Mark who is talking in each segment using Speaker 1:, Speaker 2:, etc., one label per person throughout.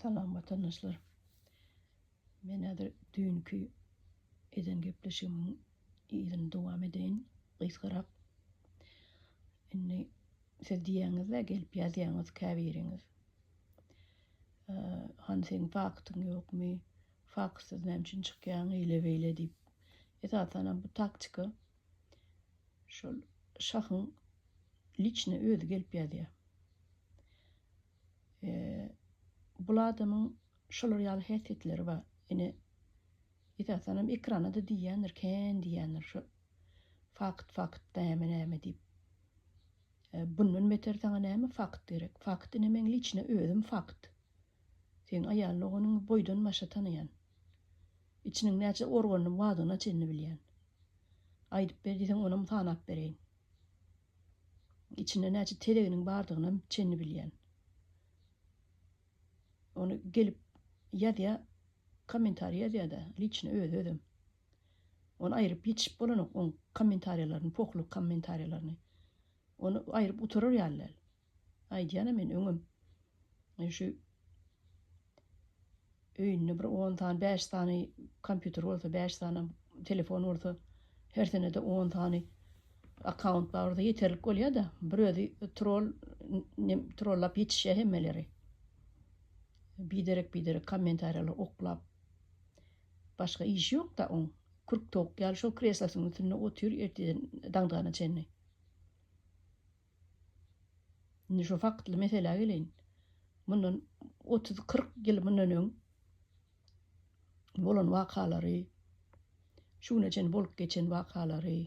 Speaker 1: Salam watandaşlar. Men häzir düýnki eden gepleşigimiň yzyny dowam edeýin, gysgarak. Indi siz diýýäňiz-de gelip ýazýaňyz käbiriňiz. Han seň faktyň ýokmy? Faktsyz näme üçin çykýaň eýle-beýle diýip. Esasanam bu taktika Şol şahyň liçne özi gelip ýazýar. E, bul adamyň şolar ýaly häsiýetleri bar. Ine, esasanam ekrana-da diýýändir, kän diýýändir şu fakt, fakt, näme, näme diýip. E, bundan beter saňa näme fakt gerek? Fakt ine meň liçne özüm fakt. Seň aýal doganyňy boýdan başa tanaýan. Içiniň näçe organyny wadygyna çenli bilýän. Aýdyp ber diýseň onam sanap bereýin. Içinde näçe tezeginiň bardygynam çenli bilýän. Ony gelip ýazýa kommentariý ýazýada liçny özi özem. Ony aýryp ýetişip bolanok oň kommentariýalaryny pohlu kommentariýalaryny. Ony aýryp gutarar ýaly däl. Aýdýan-a men öňem. Şu öýünde bir on sany, bäş sany kompýuter bolsa, bäş sanam telefon bolsa, her senede on sany akkaunt bar bolsa ýeterlik bolýar-da. Bir özi trol, trollap ýetişýär hemmeleri. Biderek-biderek kommentariýalary oklap. Başga işi ýok-da oň. Kürk towuk ýaly şol kreslosynyň üstünde otyr erteden daňdygana çenli. Indi şu faktly meselä geleýin. Mundan otuz-kyrk ýyl mundan öň bolan wakalary, şu güne çenli bolup geçen wakalary,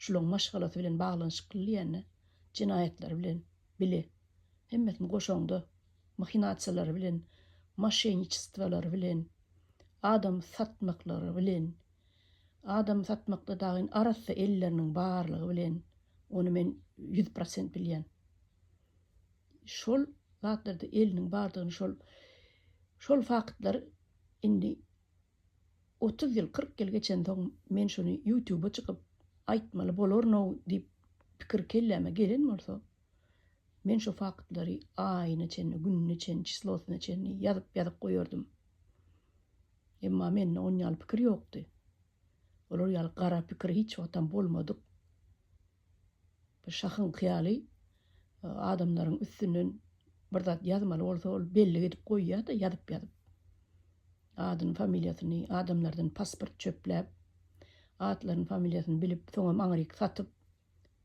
Speaker 1: şularyň maşgalasy bilen baglanyşykly diýende, jenaýatlary bilen bile, hemmesini goşaňda, mahinasiýalary bilen, moşenniçestwolary bilen, adam satmaklary bilen, Adamy satmakda dagyn arassa elleriniň barlygy bilen ony men ýüz prosent bilýän. Şol zatlarda eliniň bardygyny şol şol faktlary indi otuz ýyl kyrk ýyl geçensoň men şuny ýutuba çykyp aýtmaly bolaryn-ow diýip pikir kelläme gelen bolsa men şu faktlary aýyna çenli gününe çenli çislosyna çenli ýazyp ýazyp goýardym. Emma mende on ýaly pikir ýokdy. Olar ýaly gara pikir hiç wagtam bolmadyk. Bir şahyň hyýaly adamlaryň üstünden bir zat ýazmaly bolsa, ol bellik edip goýýar-da, ýazyp-ýazyp. Adyny, familiýasyny adamlardan pasport çöpläp, atlaryny, familiýasyny bilip, soňam aňryk satyp,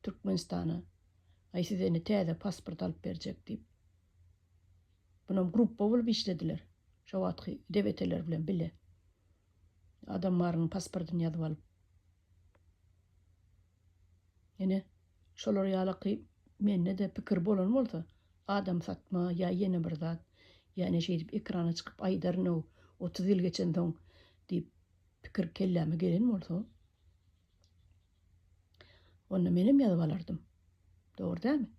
Speaker 1: Türkmenistana, Aý, size indi täze pasport alyp berjek diýip. Bunam gruppa bolup işlediler. Şo wagtky debeteler bilen bile. Adam barynyň pasportyny ýazyp alyp. Ýene şolar ýalaky mende-de pikir bolan bolsa, adam satma ýa ýene bir zat, ýane şeýdip ekrana çykyp aýdaryn-ow, otuz ýyl geçensoň diýip pikir kelläme gelen bolsa, onda menem ýazyp alardym. Dogry dälmi?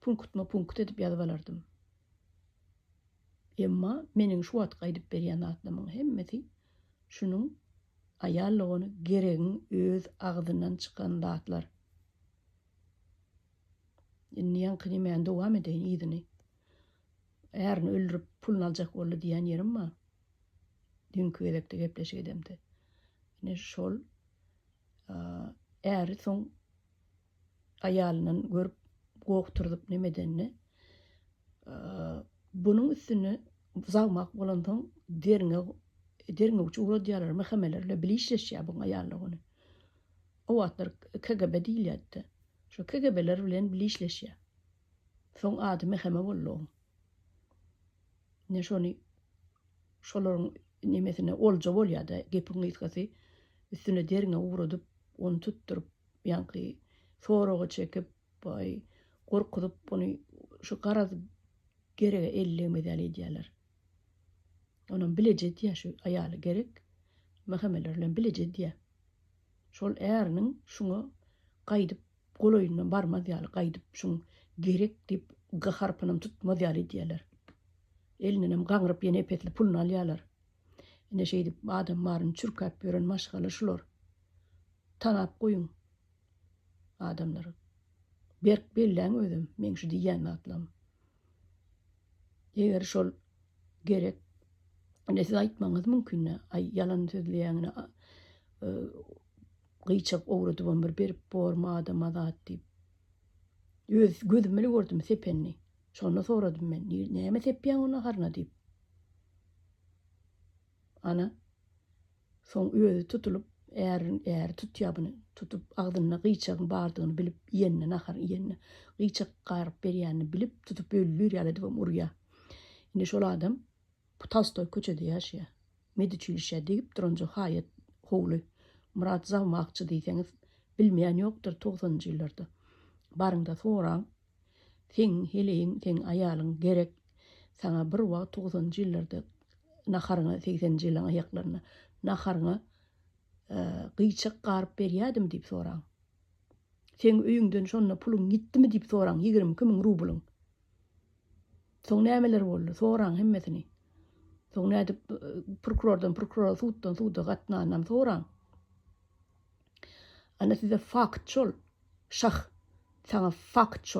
Speaker 1: Punktma-punkt edip ýazyp alardym. Emma meniň şu wagtky aýdyp berýän zatlamyň hemmesi şunuň aýallygony geregiň öz agzyndan çykan zatlar. Indi ýaňkyny men dowam edeýin yzyny. Ärini öldürip puluny aljak boldy diýen ýerim bar. Düňki gezekde gepleşik edemde. Ine şol äri soň aýalyndan görüp goh turzup neme edenini bunuň üstüni zagmak bolansoň derňe derňewçi uradýarlar mähemelerle bilişleşýär buň aýallar ony o wagtlar kgb diýilýärdi şu kgbeler bilen bilişleşýär soň ady mäheme boldy oň ne şony şolaryň nemesine olja bolýarda gepiň gysgasy üstüne derňe uradyp ony tutduryp Ýaňky soragy çekip, baý, gorkuzyp ony şu garaz gerege ellegmez ýaly edýärler. Onam bileje edýär şu aýaly gerek mähemeler bilen bileje edýär. Şol äriniň şuňa gaýdyp golaýyndan barmaz ýaly, gaýdyp şuň gerek diýip gaharpynam tutmaz ýaly edýärler. Elinenem gaňryp ýene epesli puluny alýarlar. Ine şeýdip adam baryny çürkäp ýören maşgala şular. Tanap goýuň adamlary. Berk belläň özem meň şu diýýän zatlarym. Eger şol gerek Ine siz aýtmaňyz mümkin, aý ýalan sözleýäň, ine e, gyýçak owradybam bir berip bormy adama zat diýip. Öz gözüm bilen gördüm sepenini. Şonda soradym men, näme sepýäň ony haryna diýip. Ana, soň özi tutulyp, ärin, äri tutýar buny. Tutup, agzynda gyýçagyň bardygyny bilip, iýenine, nahar iýenine, gyýçak garyp berýänini bilip, tutup öldür ýaly edibem urýar. Indi şol adam bu Tolstoý köçede ýaşaýar. Meduçilişä degip duranjy haýat howly. Myrat Zawmakçy diýseňiz, bilmeýän ýokdur togsanynjy ýyllarda. Baryň-da soraň. Seň heleýiň, seň aýalyň gerek saňa bir wagt togsanjy ýyllarda naharyňa, segsenji ýylyň aýaklarynda naharyňa gyýçak garyp berýädim diýip soraň. Seň öýüňden şonda puluň gitdimi diýip soraň, ýigrimi iki müň rublyň. Soň nämeler boldy? Soraň hemmesini. Soň nädip prokurordan prokurora, suddan suda gatnanynam soraň. Ana size fakt şol. Şah, saňa fakt şol.